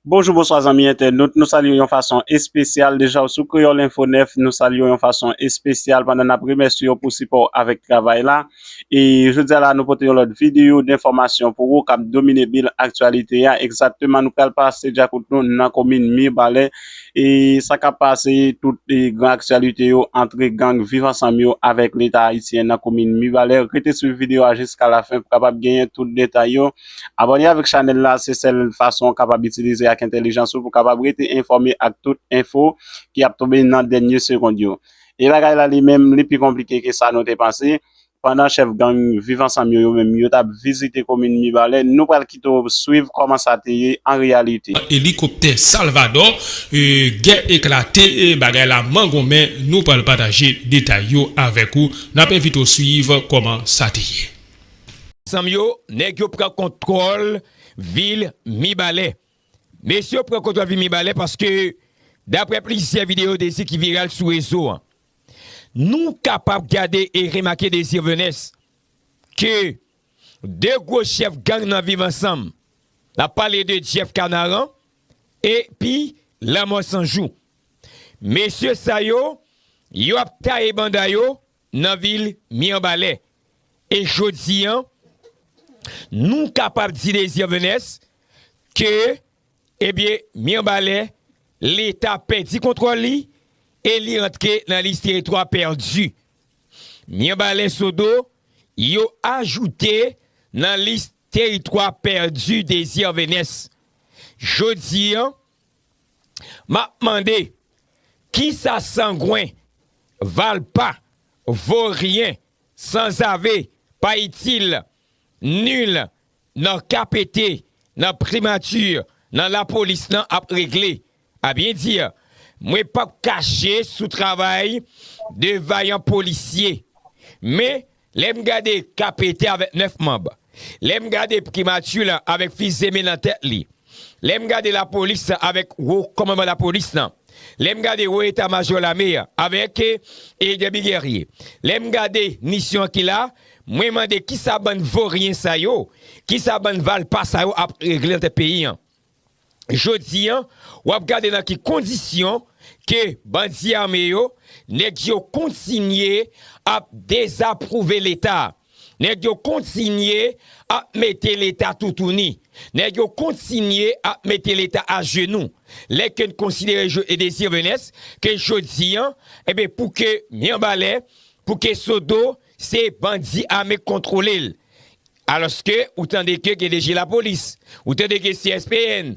Bonjou bonswa zanmi entènot, nou salye w yon fason espesyal deja w sou Kreyòl Enfo 9, nou salye w yon fason espesyal pandan n ap remèsye w pou sipò w avèk travay la. E jodi a la nou pote yon lòt videyo denfòmasyon pou ou k ap domine bil aktyalite a. Egzakteman nou pral pase dyakout nou nan komin Mirbalè e sa k ap pase tout gran aktyalite yo antre gang Viv Ansanm yo avèk Leta Ayisyen nan komin Mibalè. Rete swiv videyo a jiskalafen pou kapab genyen tout detay yo. Abòne avèk chanèl la se sèl fason ou kapab itilize ak entèlijans ou pou kapab rete enfòme ak tout enfo ki ap tonbe nan dènye segond yo. E bagay la li menm li pi konplike ke sa nou te panse, pandan chèf gang Viv Ansanm yo yo menm yo tap vizite komin Mibalè, nou pral kite w swiv kòman sa te ye an reyalite. Elikoptè Salvadò, gè eklate, bagay la mangonmen, nou pral pataje detay yo avèk ou, nap envite w swiv kòman sa te ye. Zanm yo, nèg yo pran kontwòl vil Mibalè. Mesye yo pran kontwòl vil Mibalè paske daprè plizyè videyo Désir ki viral sou rezo an. Nou kapab gade e remake Désir Venès ke 2 gwo chèf gang nan viv ansanm. N ap pale de Jeff Kanaran epi Lanmò Sanjou. Mesye sa yo, yo ap taye banda yo. nan vil Mirbalè. E jodi an, nou kapab di Désir Venès ke, ebyen, Mirbalè, Leta pèdi kontwòl li e li antre nan lis teritwa pèdi. Mirbalè Sodo, yo ajoute nan lis teritwa pèdi Désir Venès. Jodi an. Map mande kisa sangwen, valpa, voryen, sanzave, pa itil, nul nan KPT, nan primature, nan lapolis nan ap regle? A byen di, mwen pap kache sou travay 2 vayan polisye. Men Lè m gade Kapete avèk nèf manb, lè m gade Pkimati lan avèk fizeme nan tèt li, lè m gade lapolis lan avèk wo kòmanman lapolis lan, lè m gade wo eta majò lame an avèk Edèbi Gèrye, lè m gade nisyon ki la, mwen mande kisa bann voryen sa yo, kisa bann valpa sa yo ap regle nan tèt peyi an? Jodi an, w ap gade nan ki kondisyon ke bandi ame yo, nèg yo kontinye ap dezapwouve Leta. Nèg yo kontinye ap mete Leta toutouni. Nèg yo kontinye ap mete Leta ajenou. Lè ke n konsidere Joe Désir Venès, ke jodi an, enben pou ke Mirebalais, pou ke Sodo, se bandi ame k kontwole l. Alòske ou tande ke gen DG Lapolis, ou tande gen CSPN,